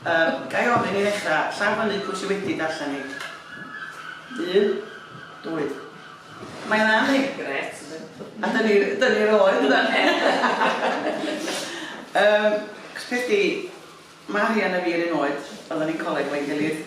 Yym, ga i ofyn i ddechra, llaw fyny pwy sy wedi darllen hi? Un, dwy. Mae yna ni! Gret, yndi? A dyna ni, dyna ni'r oed yndan? Yym, 'chos peth 'di, Marian a fi yr un oed, oeddan ni'n coleg efo'n gilydd.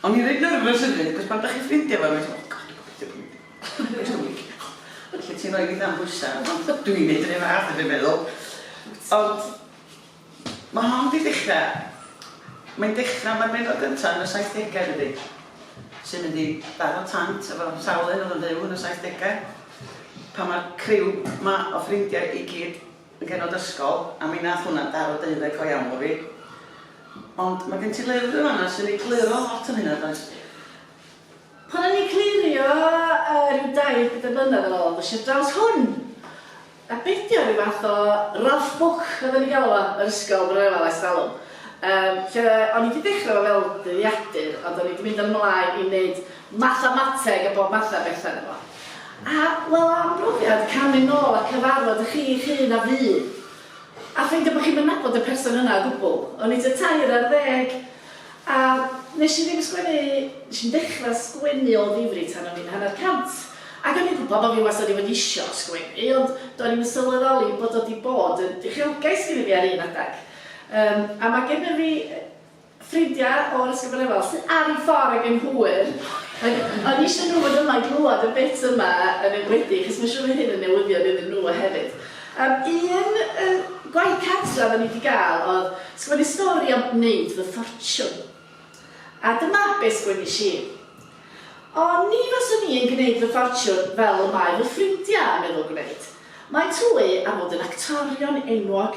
O'n i'n reit nyrfys hefyd achos pan 'dach chi'n ffrindia efo rywun ti'n meddwl 'God gobeithio bo' fi'n neud hwn yn iawn'. Felly ti'n rhoi dipyn o bwysa ond dw i'n neud yr un fath a dwi'n meddwl. Ond ma' hon 'di dechra, mae'n dechra ma'r bennod gynta yn y saithdegau dydi? Sy'n mynd i daro tant efo sawl un o'dd yn fyw yn y saithdegau pan ma'r criw 'ma o ffrindia i gyd yn genod ysgol a mi nath hwnna daro deuddeg go iawn o fi. Ond ma' gen ti lyfr yn fanna sy'n egluro lot am hynna does? Pan o'n i'n clirio yy rhyw dair pedwar blynedd yn ôl ddois i'r draws hwn! A be' ydi o, ryw fath o rough book oedden ni'n galw fo yr ysgol pan o'n i yma ers talwm yym lle o'n i 'di dechre fo fel dyddiadur ond o'n i 'di mynd yn mlaen i neud mathemateg a bob math a betha yno fo. A, wel, am brofiad camu nôl a cyfarfod y chi eich hun a fu, a ffeindio bod chi'm yn nabod y person yna o gwbl. O'n i tua tair ar ddeg, a wnes i ddim sgwennu, wnes i'm dechrau sgwennu o ddifri tan o'n i'n hanner cant. Ac o'n i'n gwybod bod fi wastad 'di bod isio sgwennu, ond do'n i'm yn sylweddoli bod o 'di bod yn uchelgais gyda fi ar un adeg. Yym, a mae gennym fi ffrindiau o Addysg y Brenhinol sydd ar eu ffordd ag yn hwyr, ac o'n i eisiau nhw fod yma i glywed y bit yma yn enwedig, achos mae'n siŵr fydd hyn yn newyddion iddyn nhw hefyd. Yym, un yy gwaith cartref o'n i wedi gael oedd sgwennu stori am wneud fy ffortiwn. A dyma be sgwennish i. Ond ni faswn i yn gwneud fy ffortiwn fel y mae fy ffrindiau yn meddwl gwneud. Mae Twy am fod yn actorion enwog.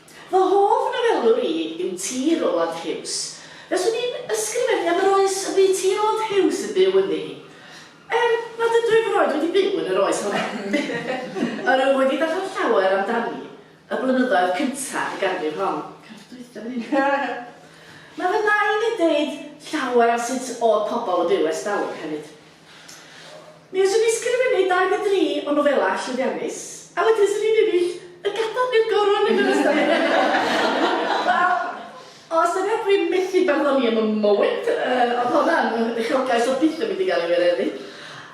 Fy hoff nofelwr i yw T. Roald Hughes. Fyswn i'n ysgrifennu am yr oes y bu T. Roald Hughes yn byw ynddi. Er nad ydw i erioed wedi byw yn yr oes honno, yr wyf wedi darllen llawer amdani y blynyddoedd cyntaf y ganrif hon. Cyfnod dwytha fy hun. Mae fy nain yn deud llawer am sut o'dd pobl yn byw ers dalwm hefyd. Mi fyswn i sgrifennu dau neu dri o nofelau llwyddiannus, a wedyn fyswn i'n ennill y gadar neu'r goron yn yr ysgol hefyd! Wel, os yw e dwi'n methu barddoni am y mowent, yy, o'dd honna'n uchelgais o'dd byth yn mynd i gael ei wireddu.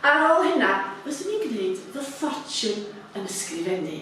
Ar ôl hynna, fyswn i'n gneud fy ffortiwn yn ysgrifennu.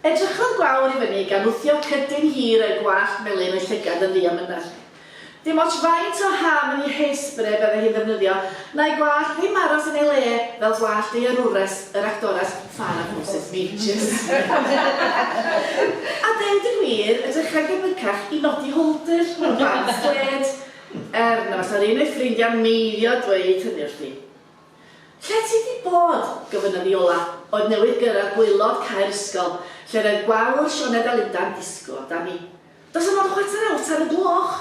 Edrychodd Gwawr i fyny gan wthio cydyn hir a'i gwallt melyn o'i llygad yn ddiamynedd. Dim ots faint o ham neu hairspray bydde hi'n ddefnyddio, na'i gwallt ddim aros yn ei le fel gwallt ei arwres, yr actores Farrah Moses Meeches. A deud y gwir, edrychai'n gyfycach i Noddy Holder mewn band dwed, er na fasa'r un o'i ffrindiau'n meiddio dweud hynny wrthi. Lle ti 'di bod? gofynnodd Iola, oedd newydd gyrraedd gwaelod cae'r ysgol, lle'r oedd gwawr Sioned a Lunda'n disgwyl amdani. Does 'na mond chwarter awr tan y gloch!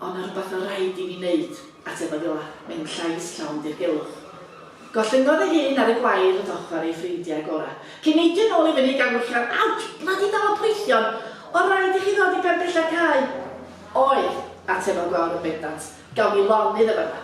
O, 'na rwbath ma' raid i fi 'neud, atebodd Iola, mewn llais llawn dirgelwch. Gollyngodd ei hun ar y gwair wrth ochr ei ffrindiau gorau, cyn neidio nôl i fyny gan wylltio'n Awtsh! Blydi dafad poethion! O, raid i chi ddod i ben pella'r cae! Oedd, atebodd gwawr yn bendant, gawn ni lonydd yn fan'na.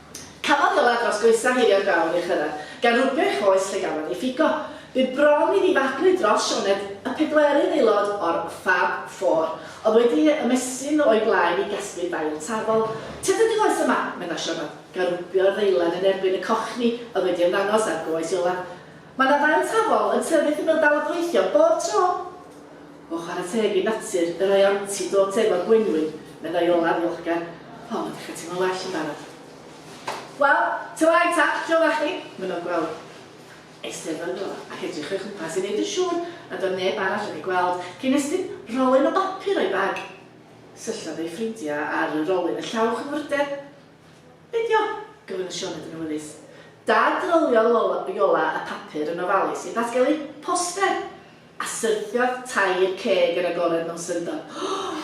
Cafodd y ladd dros goesau heirio'r gawr ei chyrraedd, gan rwbio ei choes lle gafodd ei ffigo. Bu bron i ddifadwy dros Sioned, y pedwerydd aelod o'r Fab Four, oedd wedi ymestyn o'i blaen i gasglu dail tafol. Tybed y goes yma? medda Sioned, gan rwbio'r ddeilen yn erbyn y cochni oedd wedi ymddangos ar goes Iola. Mae 'na ddail tafol yn tyfu wrth ymyl dal y poethion, bob tro! O chwarae teg i natur, y rhai anti dod efo'r gwenwyn, meddai Olaf ddiolchgar. O, mae 'di cael teimlo'n well yn barod. Wel, ta waeth ta, lle oeddach chdi? Mynnodd Gweld. Eisteddai fo ac edrych o'i chwmpas i wneud yn siŵr nad oedd neb arall wedi gweld, cyn estyn rolyn o bapur o'i bag. Syllodd ei ffrindiau ar y rolyn â llaw chwilfrydedd. Be 'di o? gofyn y Sioned yn awyddus. Dad, roliodd Iola y papur yn ofalus i ddatgelu poster! A syrthiodd tair ceg yn agored mewn syndod. Ohh!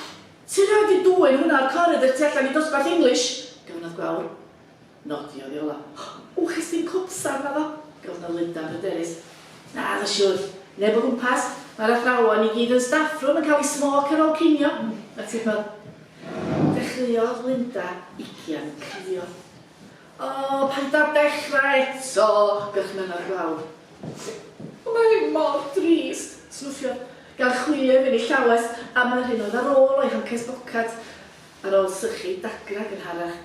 Ti rioed di dwyn hwnna o'r coridr tu allan i dosbarth English? gofynnodd Gwawr. Nodiodd Iola. Ohh! Ww, ges i'm copsan naddo? gofynnodd Linda yn bryderus. Naddo siwr. Neb o gwmpas. Mae'r athrawon i gyd yn staff room yn cael eu smoc ar ôl cinio. Atebodd. Dechreuodd Linda ugian crio. O, paid â dechra eto! Gorchmynnodd Gwawr. O, mae hyn mor drist! snuffiodd gan chwi ef yn ei llawes, am yr hyn oedd ar ôl o'i hancês bocad, ar ôl sychu dagrau gynharach.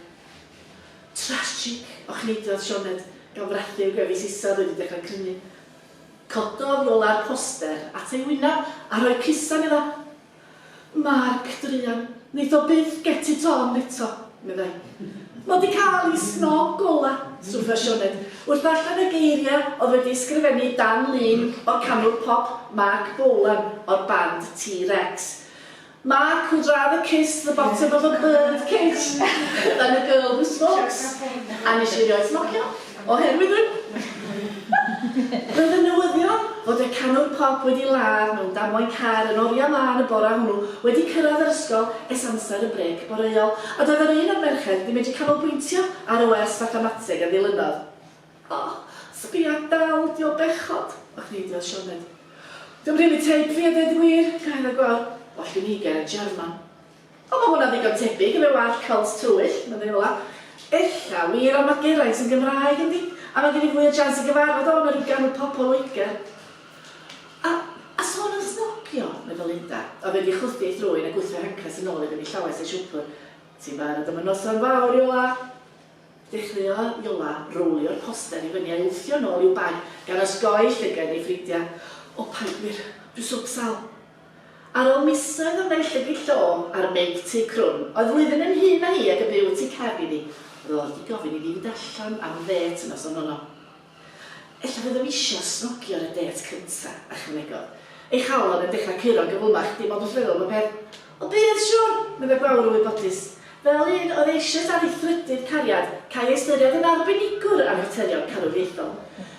Tragic! ochneidradd Sioned, gan frathu ei gwefus isaf oedd wedi dechrau crynu. Cododd Iola'r poster at ei wyneb a rhoi cusan iddo. Mark, druan, neith o byth get it on eto, meddai. Mo 'di cael i snob gola, swtha Sioned, wrth ddarllen y geiria oedd wedi ysgrifennu dan lun o'r canwr pop Mark Bolan o'r band T-Rex. Mark would rather kiss the bottom of a bird cage than a girl who smokes. A nesh i rioed smocio. Oherwydd y Roedd y newyddion fod y canwr pop wedi ladd mewn damwain car yn oriau mân y bore hwnnw wedi cyrraedd yr ysgol ers amser y brêc boreol, a doedd yr un o'r merched ddim wedi canolbwyntio ar y wers fathemateg a ddilynodd. O, sbia dal ydi o bechod! Ocneidiodd Sioned. Dio'm rili teg fi a deud y gwir, cyhoeddodd Gwawr. Well gen i ger y German. O mae hwnna'n ddigon tebyg, efe wallt cowls twyll, neu fel 'na. Ella wir ond mae Geraint yn Gymraeg yndi? A mae gen i fwy o jans i gyfarfod o na rhyw ganwr pop o Loegr. A, a sôn am snogio, meddwl Linda, oedd wedi ei chwythu ei thrwyn a gwthio hancres yn ôl iddo i llawes ei siwpwr, ti'n barod am y noson fawr, Iola? Dechreuodd Iola rowlio'r poster i fyny a'i wthio nôl i'w bag gan osgoi llygaid ei ffrindiau. O paid wir, dwi swp sal. Ar ôl misoedd o naill llygid llong a'r meic tu crwn, oedd flwyddyn yn hŷn na hi ac yn byw y tu cefn iddi, roedd wedi gofyn i fi fynd allan am ddêt y noson honno. Ella fyddwn i eisiau snogio ar y dêt cyntaf, ychwanegodd. Ei chawl oedd yn dechrau curo'n gyflymach, dim ond wrth feddwl am y peth. O bydd, siwr! meddai Gwawr yn wybodus. Fel un oedd eisoes ar ei thrydydd cariad, câi ei ystyried yn arbenigwr am faterion carwriaethol.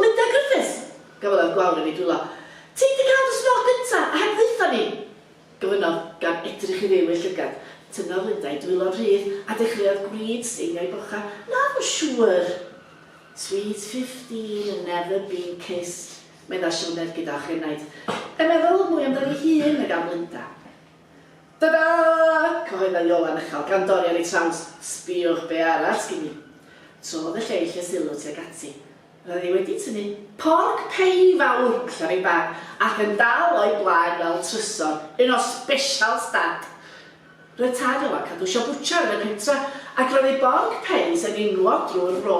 Linda Griffiths! Gafaelai'r gwawr yn ei dwylo. Ti 'di cael dy snog gynta, a heb ddaetho ni! gofynnodd, gan edrych i fyw i'r llygad. Tynnodd Linda ei dwylo'n rhydd, a dechreuodd gwrid steinio'i bochau. Naddo, siŵr! Sweet fifteen and never been kissed, medda Sioned gyda ochenaid. Yn meddwl mwy amdani'i hun nag am Linda. Tada! Cyhoedda Iolan uchel gan Dorian ei traws, Sbïwch be' arall sgin i! Trodd y lleill y sylw tuag ati. Roedd hi wedi tynnu porc pei fawr allan o'i bag ac yn dal o'i blaen fel trysor, un o specials Dad! Roedd tad Iolan cadw siop bwtsiar yn y pentra ac roedd ei borc peis yn inglo drwy'r fro.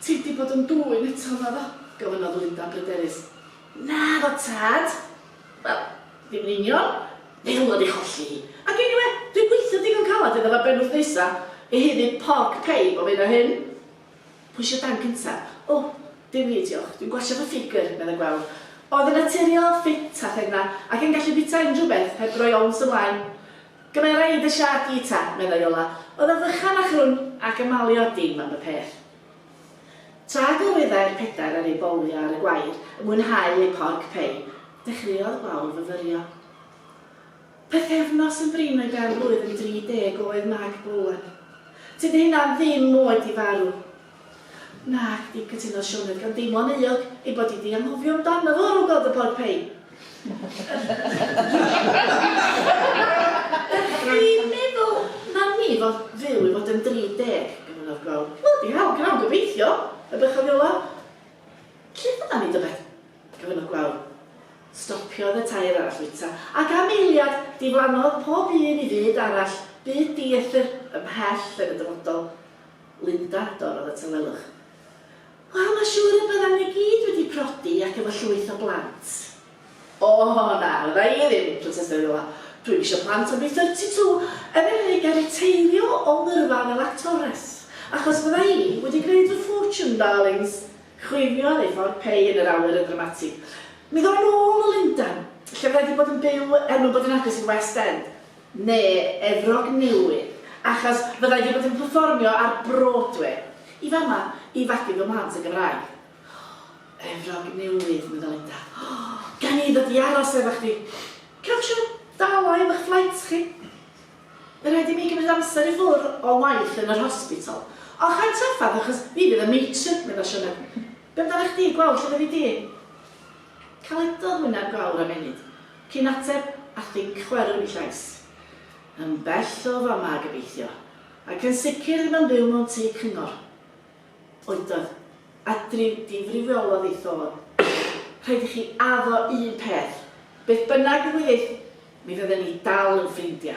Ti 'di bod yn dwyn eto, naddo? gofynnodd Linda bryderus. Naddo, tad! Wel, ddim yn union. Fel mod i cholli hi. Ac eniwe, dwi'n gweithio digon calad iddo fo benwthnoesa i haeddu porc pie bob hyn a hyn. Pwy isio dan cyntaf? O, dim fi, diolch. Dwi'n gwasio fy ffigr, medda Gweld. Oedd yn naturiol, ffit a phenna, ac yn gallu bwyta unrhyw beth heb roi ons ymlaen. Gymera i dy siâp di ta, medda Iola. Oedd o fychan a chrwn ac yn malio dim am y peth. Tra gyrwyddai'r pedair ar eu bowlio ar y gwair yn mwynhau eu porc pei, dechreuodd gwawr fyfyrio. Pythefnos yn brin o'i ben-blwydd yn 30 oed Mag Bowen. Tydi hynna ddim oed i farw. Nag ydi, cytunodd Sioned gan deimlo'n euog ei bod hi 'di anghofio amdano fo ar ôl gweld y porc pei. Dwi'n meddwl na mi fodd fyw i fod yn 30, gyfyngodd Gweld. Blydi hel, gnawn gobeithio, y bychan Fiola. Lle fyddan ni, tybed? gyfyngodd Gweld. Stopiodd y tair arall fwyta, ac am eiliad, diflannodd pob un i fyd arall, byd dieithr, ymhell yn y dyfodol. Linda, dorrodd y tawelwch. Wel, mae'n siŵr y byddan ni gyd wedi prodi ac efo llwyth o blant. O na, fydda i ddim, protestai'r Wylfa. Dw i'm eisiau plant, ond dwi 32, er enghraifft, ga i riteirio o ngyrfa fel actores? Achos fydda i wedi gwneud fy fortune, darlings! Chwifiodd ei ffordd Pei yn yr awyr yn ddramatig. Mi ddown nôl o Lundan, lle fydda i wedi bod yn byw er mwyn bod yn agos i'r West End. Neu Efrog Newydd, achos fydda i wedi bod yn perfformio ar Broadway, i fama, i fagu fy mhlant yn Gymraeg. Oh, Efrog Newydd, medda Linda. Oh, gawn ni ddod i aros efo chdi. Cewch siŵr dal o efo'ch fflaits chi? By rhaid i mi gymryd amser i ffwr o waith yn yr hospital. Och, ai'm traffarth, achos fi fydd y matron, medda Siona. Be amdanach chdi, gweld lle fyddi di? Caledodd wyneb fawr am ennyd, cyn ateb, a thinc chwerw i llais. Yn bell o fama, gobeithio. Ac yn sicr ddim yn byw mewn tŷ cyngor. Oedodd. A driw difriwiolodd ei thôn. Rhaid i chi addo un peth. Beth bynnag ddigwyddith, mi fydden ni dal yn ffrindia.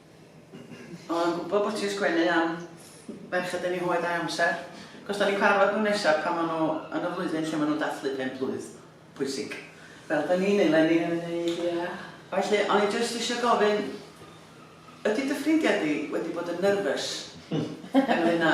Oeddwn yn gwybod bod ti'n sgwennu am ferched yn eu hoed a'u amser, achos dan ni'n cyfarfod nhw nesaf pan maen nhw yn y flwyddyn lle maen nhw'n dathlu pen blwydd pwysig, fel dan ni'n eleni yn wneud, ie. Felly, o'n i jyst eisiau gofyn, ydy dy ffrindiau di wedi bod yn nervous ynglŷn â...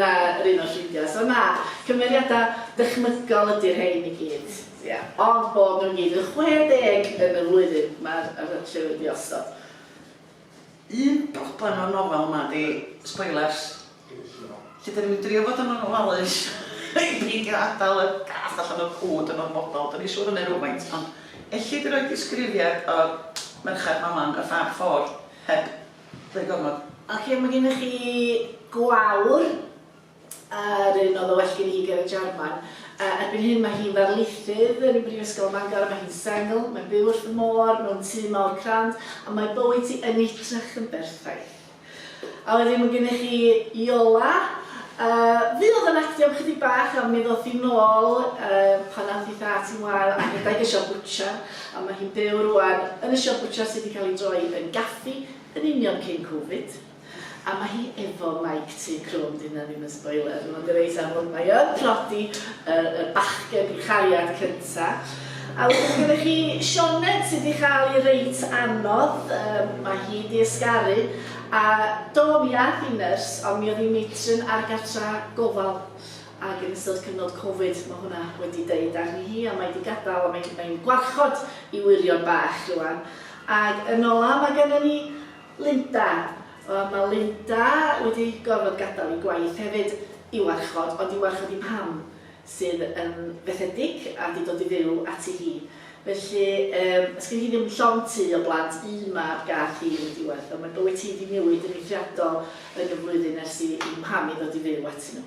Mae'r un o'r ffrindiau, so na, cymeriadau dychmygol ydy'r rhein i gyd, ia, ond bod nhw i gyd yn 60 yn y flwyddyn mae'r rhaglen wedi osod. Un broblem o'r nofel yma ydy spoilers, lle dan ni'n mynd i drio bod yn ofalus i beidio adael y gath allan o'r cwd yn orfodol, dan ni'n siŵr o hynny rywfaint, ond elli di roi disgrifiad o merched Manon y Fab Four heb Rhoi gormod. Ok mae gennych chi gwawr yr un oedd yn well gen i ger y Jarman. Yy erbyn hyn mae hi'n ddarlithydd yn Brifysgol Mangor, mae hi'n sengl, mae'n byw wrth y môr, mewn tŷ mawr crand a mae bywyd hi yn edrych yn berffaith. A wedyn mae gennych chi Iola, yy fi oedd yn actio am chydig bach a mi ddoth hi nôl yy pan ath hi thad hi'n wael a rhedeg y siop bwtsiar. A mae hi'n byw rŵan yn y siop bwtsiar sydd wedi cael ei droi yn gaffi yn union cyn Covid. A mae hi efo mike tu crwn, 'di hynna ddim yn spoiler, mae o'n reit amlwg, mae o'n tlodi y, y bachgen i chariad cynta. A wedyn mae gennych chi Sioned sydd wedi cael ei reit anodd, um, mae hi wedi ysgaru, a do mi ath i nyrs, ond mi oedd hi'n matron ar gartra gofal. ac yn ystod cyfnod covid ma' hwnna wedi deud arni hi a mae di gadal a mae hi mae'n gwarchod i wyrion bach rwan. Ag yn ola ma' gynnon ni Linda. Wel ma' Linda wedi gorfod gadal i gwaith hefyd i warchod ond i warchod i mam sydd yn fethedig a di dod i fyw ati hi. Felly yym sgyn hi ddim llond tu o blant un mab gath hi yn y diwedd fel mae bywyt hi di newid yn eithriadol yn y flwyddyn ers i i mham i ddod i fyw ati nhw.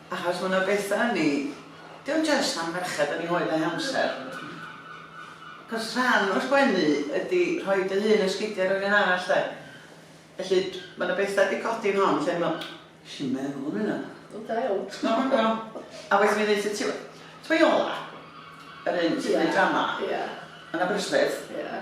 Achos ma' 'na betha yn 'i. Dio jyst am ferched yn 'i oed a'i hamser. Achos rhan o'r gwenu ydi rhoi dy hun yn sgidia rywun arall 'de. Felly d- ma' 'na betha 'di codi yn hon lle o'n i'n me'wl, nesh i'm meddwl am hynna. Wel da iawn. T'mo' ma'n fel, a waeth mi ddeutha ti we- t'mo' Iola? Yr un sy 'di neud drama? Ia. Yn Aberystwyth? Ia.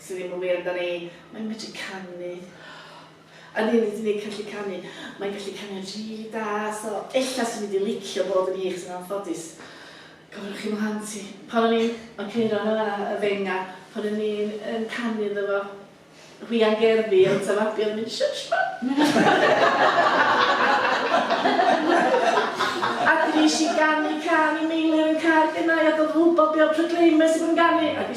Sydd ddim yn wir amdani. Mae'n medru canu. A ddim hyd yn oed gallu canu. Mae'n gallu canu rili da, so ella swn i wedi licio bod yn hi, achos yn anffodus, gofynnwch chi mlaen ti. Pan o'n i'n oceiro yna y fenga, pan o'n i'n yn canu iddo fo, hwian gerddi, ond ta fabi oedd yn mynd shush mum! A dwi eisiau ganu cân i Meilir yn car gennau, a doedd yn wybod be oedd Proclaimers i fod yn ganu, ac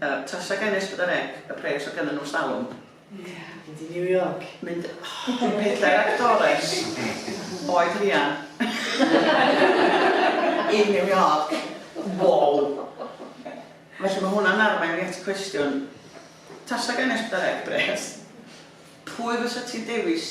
Yy tasa gennyf sbydar ec y pres o gennym nhw stalwm. Mynd i New York. Mynd oh dwi pedair actores oed Rhian in New York. Wow. Felly mae hwnna'n arwain fi at y cwestiwn tasa gennyf sbydar ec y pres pwy fysa ti'n dewis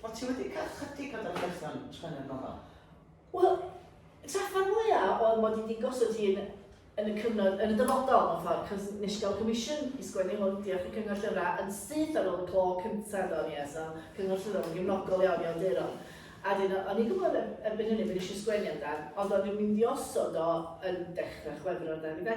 O ti wedi cael chydig o ddarllethion yn y gofal? Wel, traffer mwya oedd mod i wedi gosod hi yn yn y cyfnod, yn y dyfodol mewn ffordd, cos nes i gael comisiwn i sgwennu hwn, diolch i Cyngor Llyfrau, yn syth ar ôl y clo cyntaf do, ni, so Cyngor Llyfrau yn gefnogol iawn i awduron. A dyn, o'n i'n gwybod er, erbyn hynny bod eisiau sgwennu amdan, ond o'n i'n mynd i osod o yn dechrau chwefror dan i fe.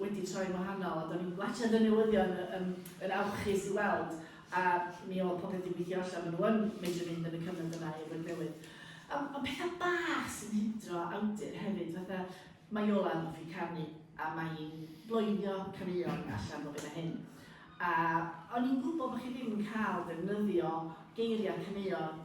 wedi troi'n wahanol a do'n i'n gwachad y newyddion yn, yn awchus i weld a mi oedd popeth wedi gweithio allan, maen nhw yn mynd yn mynd yn y cyfnod yna i Efrog Newydd. Ond on pethau bach sy'n hidro awdur hefyd, fatha mae Iolan hoffi canu a mae hi'n bloeddio caneuon allan bob hyn a hyn. A o'n i'n gwybod bod chi ddim yn cael defnyddio geiriau caneuon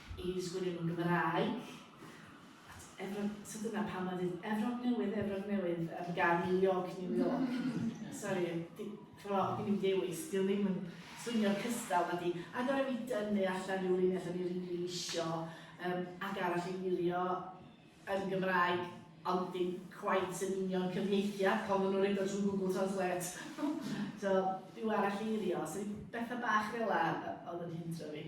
i ddisgwylio mewn Gymraeg. Efrog, so dyna pam oedd dweud Efrog Newydd, Efrog Newydd, ar gan New York, New York. Sorry, cro, fi'n mynd dewis, di ddim yn swnio'r cystal na di. A gorau fi dynnu allan rhyw linell o'n i'n rili isio, um, ac arall i wylio yn Gymraeg, ond dim quite yn union cyfieithiad, pan nhw'n rhaid o trwy Google Translate. so, rhyw arall eirio, so bethau bach fel la oedd yn hintro fi.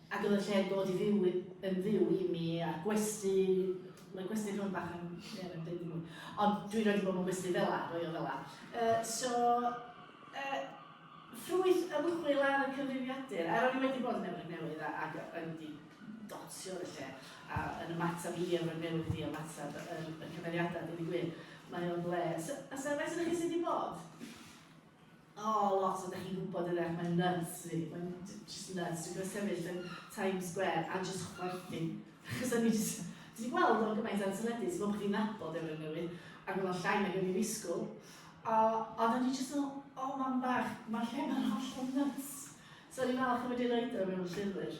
Ac yn y lle dod i fyw yn fyw i mi a'r gwesty, mae gwesty rhwng bach yn, ie, mae'n dweud ddim mwy. Ond dwi'n rhaid i bod mewn gwesty fel la, roi o fel la. Uh, so, uh, ffrwyth ymchwil ar y cyfrifiadur, a ro'n i wedi bod yn Efrog Newydd ac ro'n i wedi dotio y lle, a yn ymateb i Efrog Newydd i ymateb y, y, y cymeriadau, dwi'n gwir, mae o'n le. So, a sefais ydych chi sydd wedi bod? O, lot o, dach chi'n gwybod yn eich, mae'n nuts fi, mae'n just nuts, dwi'n gwybod sefyll yn Times Square a just chwerthu. Achos o'n i just, dwi wedi gweld o'n gymaint ar teledu, ti'n gwybod bod chi'n nabod efo'r newydd, ac oedd o'n llai nag o'n i ddisgwyl. A, a o'n i just yn, o, mam bach, mae lle mae'n holl o'n nuts. So o'n i'n falch o wedi roed o mewn llyfr.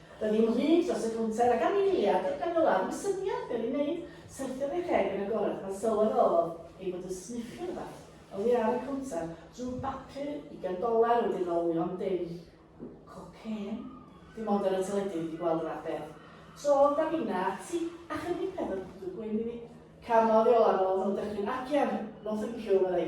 Doedd dim hud dros y cownter ac anifeiliad oedd ganddo law i syniad be oedd i'w wneud. Syrthiodd ei cheg yn agored pan sylweddolodd ei fod yn sniffio rhywbeth oddi ar y cownter drwy bapur ugain doler wedi rolio am dim. Cocên? Dim ond ar y teledu wedi gweld y fath beth. Trodd Davina ati a chynnig peth o gwdw gwyn iddi. Canodd i olaf, roedd o'n dychryn. Acian! No thank you, meddai.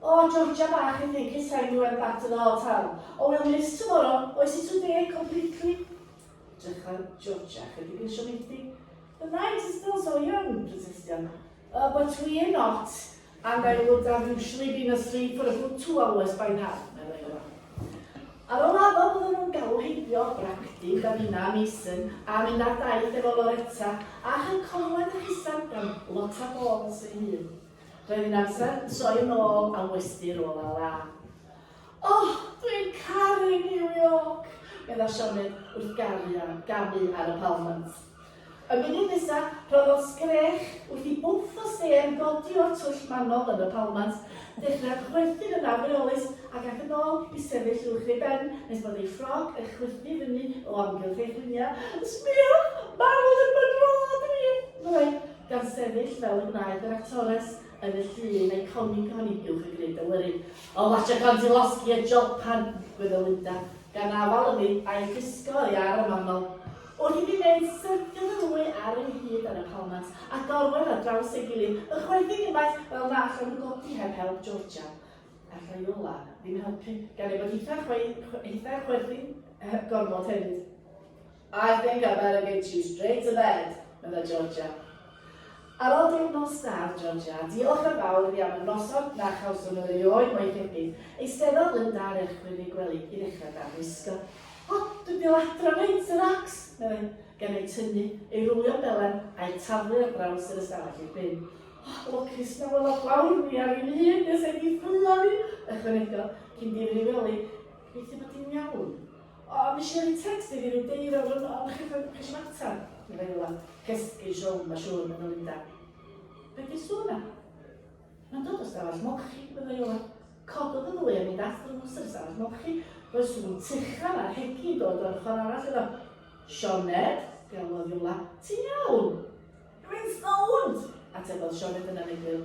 O Georgia bach I think it's time we went back to the hotel Oh we'll miss tomorrow Oes i too big completely Edrycha Georgia chydig yn siomedig The night is still so young protestio Uh but we're not And I would have usually been asleep for a good two hours by now meddai yma. Ar ôl addo byddwn nhw'n galw heibio Bragdy, Davina, Mason a mynd ar daith efo Loretta a chael conwed a hisan gan Lotta Balls ei hun. Roedd yn amser troi yn ôl a westy rôl ar la. Oh, dwi'n caru New York! medda Sioned wrth garu a gamu ar y palmant. Y munud nesa, rhoddodd sgrech wrth i bwff o sêr ddodi o'r twll manol yn y palmant, dechrau chwerthin yn afreolus ac ac yn ôl i sefyll uwch ei ben nes bod ei ffrog yn chwythu fyny o amgylch ei chwyniau. Sbia! Marwol yn fy nhrod i! meddai. gan sefyll fel y gwnaed yr actores yn y llun eiconig hon i Gylch y Grid Awyru. O Macha Kondylovsky a Jopan, gwyddo Linda, gan afal ymi a'i llusgo oddi ar y manol. Wrth i mi wneud syrthio fy nwy ar ei hyd ar y palmant a gorwedd ar draws ei gilydd, ychwaethu gymaint fel na allai nhw godi heb help Georgia. Ar Raiola, ddim helpu, gan ei bod hithau'n chwerthin heb gorfod hefyd. I think I better get you straight to bed, medda Georgia. Ar ol deg nos dad, Georgia, diolch yn fawr iddi am y noson na chawsom yr erioed mo'i thebyg. Eisteddod Linda ar eich gweddi gwely i ddechrau dan wisgo. O, dwi'n dil adra mate, Sir Ax, meddai, gan ei tynnu, ei rwlio belen a'i taflu ar draws yr ystafell i'r bin. O, lwcus na wel o blawd mi ar un hun nes ei ffwlio fi, ychwanegodd, cyn difrifelu, gobeithio bod hi'n iawn. O, a misio roi text i fi rhyw deirwr yn ôl, chi fod chi eisiau mater? Dwi'n meddwl am cesgu siom, mae siŵr maen nhw'n mynd â. Be di sŵn na? Mae'n dod o stafell molchi, meddai Iola. Cododd y ddwy a mynd at drws yr ystafell molchi. Roedd sŵn tuchan a'r hegi'n dod o'r ochr arall iddo. Sioned, galwodd Iola, ti'n iawn? Rwy'n sownd! atebodd Sioned yn anegwyl.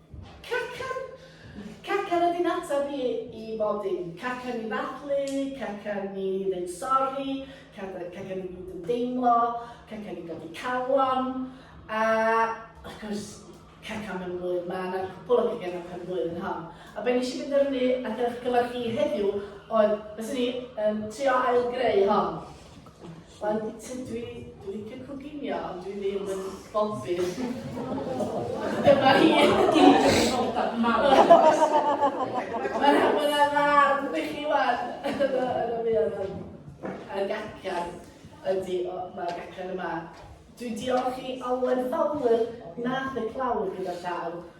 Cacan! Cacan ydy'n ateb i i bob dim. Cacan i ddathlu, cacan i ddeud sori, cacan i fod yn deimlo, cacan i godi calon, a wrth gwrs, cacan mewn blwydd, mae yna cwpl o cacan o'ch yn blwydd yn hon. A be nes i fynd arni a dewch gyfer chi heddiw oedd, fes ni, um, trio ail greu hon. Wel, Peter, dwi, dwi licio coginio, ond dwi ddim yn bobbin. Dyma hi. Mae'n hynny'n ddarn i chi wan. A'r gacan ydy, mae'r gacan yma. Dwi'n diolch i Alwen Fowler, nath y clawr gyda llaw,